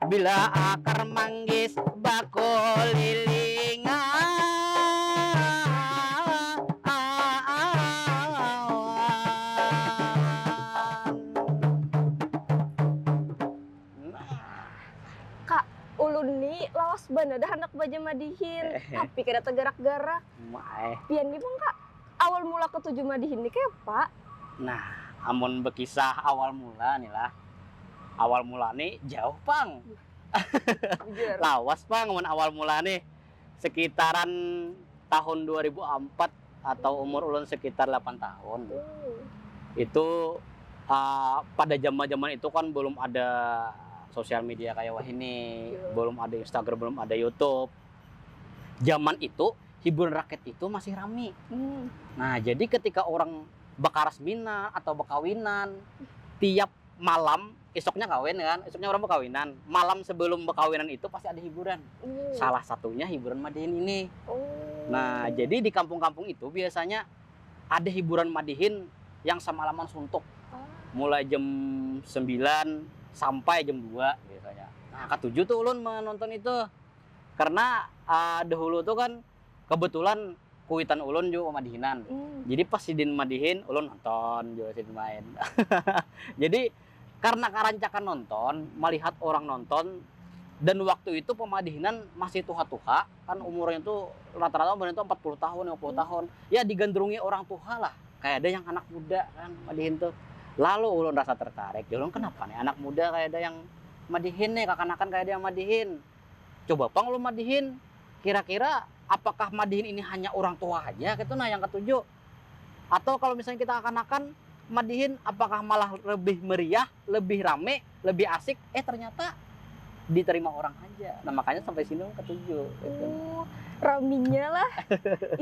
Bila akar manggis bakulilingan. Kak, ulun ni lawas banar dah handak bajamadihin, tapi kada tagarak-garak. Pian ni pang Kak, awal mula katuju madihin ni kayapa? Nah, amun bakisah awal mula ni lah. Awal mula ni jauh pang. Lawas pang mun awal mula nih. Sekitaran tahun dua ribu ampat atau umur ulun sekitar lapan tahun. Itu pada jaman-jaman itu kan belum ada sosial media kaya wahini, belum ada Instagram, belum ada YouTube. Jaman itu hiburan rakyat itu masih rami. Nah, jadi ketika orang. bakaras mina atau bakawinan tiap malam isuknya kawin ya kan isuknya orang bakawinan malam sebelum bakawinan itu pasti ada hiburan hmm. salah satunya hiburan madihin ini oh. nah jadi di kampung-kampung itu biasanya ada hiburan madihin yang semalaman suntuk oh. mulai jam 9 sampai jam 2 biasanya nah ketujuh tuh ulun menonton itu karena uh, dahulu tuh kan kebetulan kuitan ulun jua madihinan hmm. jadi pas sidin madihin ulun nonton juga sidin main jadi karena karancakan nonton melihat orang nonton dan waktu itu pemadihinan masih tuha-tuha kan umurnya tuh rata-rata umurnya tuh 40 tahun 50 hmm. tahun ya digandrungi orang tuha lah kayak ada yang anak muda kan madihin tuh lalu ulun rasa tertarik ya ulun kenapa nih anak muda kayak ada yang madihin nih kakanakan kayak ada yang madihin Coba pang ulun madihin, kira-kira apakah madihin ini hanya urang tuha haja kaitu nah yang katuju. Atau kalau misalnya kita kakanakan madihin apakah malah lebih meriah, lebih rame, lebih asik, eh ternyata diterima urang haja. Nah makanya sampai sini ulun katuju kaitu nah. Oh, raminya lah.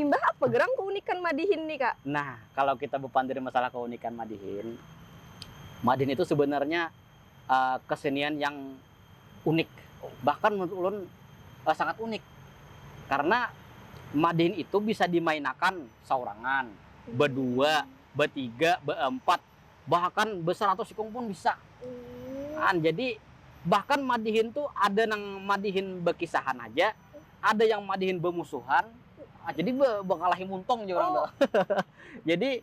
Imbah apa gerang keunikan madihin nih kak? Nah, kalau kita bepandir masalah keunikan madihin, madihin itu sebenarnya. kesenian yang unik bahkan menurut ulun sangat unik karena madin itu bisa dimainakan saurangan bedua betiga beempat bahkan beseratus ikung pun bisa an jadi bahkan madihin tu ada nang madihin bekisahan haja ada yang madihin bemusuhan jadi bekalahi muntung jar orang tu jadi.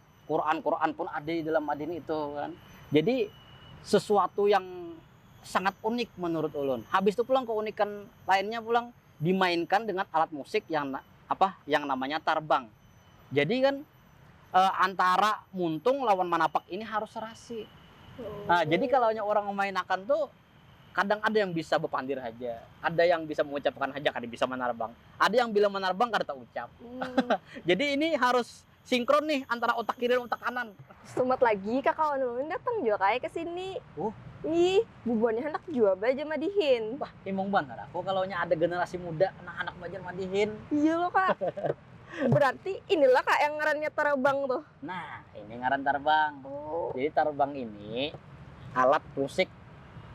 Quran Quran pun ada di dalam madin itu kan jadi sesuatu yang sangat unik menurut ulun habis itu pulang keunikan lainnya pulang dimainkan dengan alat musik yang apa yang namanya tarbang jadi kan e, antara muntung lawan manapak ini harus serasi nah jadi kalau orang memainakan tuh kadang ada yang bisa berpandir saja, ada yang bisa mengucapkan saja, kada bisa menarbang, ada yang bila menarbang kada terucap. Hmm. Jadi ini harus Sinkron nih antara otak kiri dan otak kanan. Sumat lagi kakawan ulun datang jua kaya ke sini. Huh. Ih, bubuhannya handak jua ba ja madihin. Bah, himung banar aku kalau nya ada generasi muda nang handak belajar madihin. Iya lo ka. Berarti ini lah ka yang ngarannya tarabang tuh. Nah, ini ngaran tarabang. Oh. Jadi tarabang ini alat musik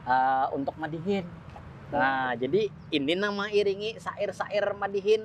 uh, untuk madihin. Nah, jadi ini nang mengiringi sair-sair madihin.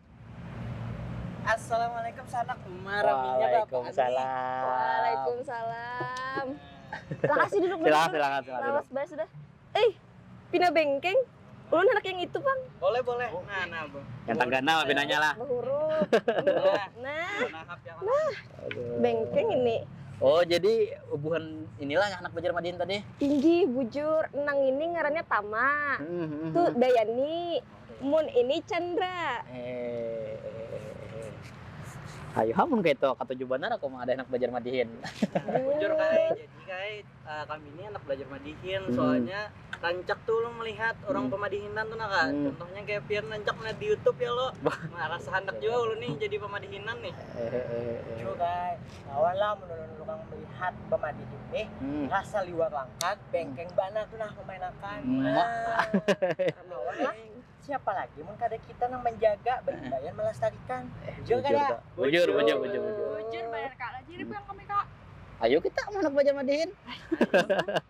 Assalamualaikum sanak Umar. Waalaikumsalam. Waalaikumsalam. Makasih duduk dulu. Silakan, silakan, silakan. Lawas banget sudah. Eh, pina bengkeng. Ulun anak yang itu, Bang. Boleh, boleh. Oh. Nah, nah, Bang. Yang tanggana mah pinanya lah. Berhuruf. nah. Nah. nah. Bengkeng ini. Oh, jadi bukan inilah anak Bajar Madin tadi? Tinggi, bujur. Nang ini ngarannya Tama. Mm -hmm. Tuh Dayani. Mun ini Chandra. Hehehe. Ayu ha mun kaitu, katuju banar aku ma'adah handak balajar madihin. Bujur ka ai, jadi ka ai kami ni handak balajar madihin, soalnya rancak tu ulun malihat urang pamadihinan tu nah ka, contohnya kaya pian rancak malihat di youtube ya kalo, nah rasa handak jua ulun ni jadi pamadihinan nih. Hehehe. Kawa lah mun ulun urang melihat bamadi ini, rasa liwar langkat, bengkeng banar tu nah memainakan. Kawa lah, siapa lagi mun kada kita nang manjaga, baimbaian malastarikan. Bujur kada? Bujur, bujur, bujur, bujur. Bujur banar kak, lajari pulang kami kak. Ayu kita manak bajamadihin.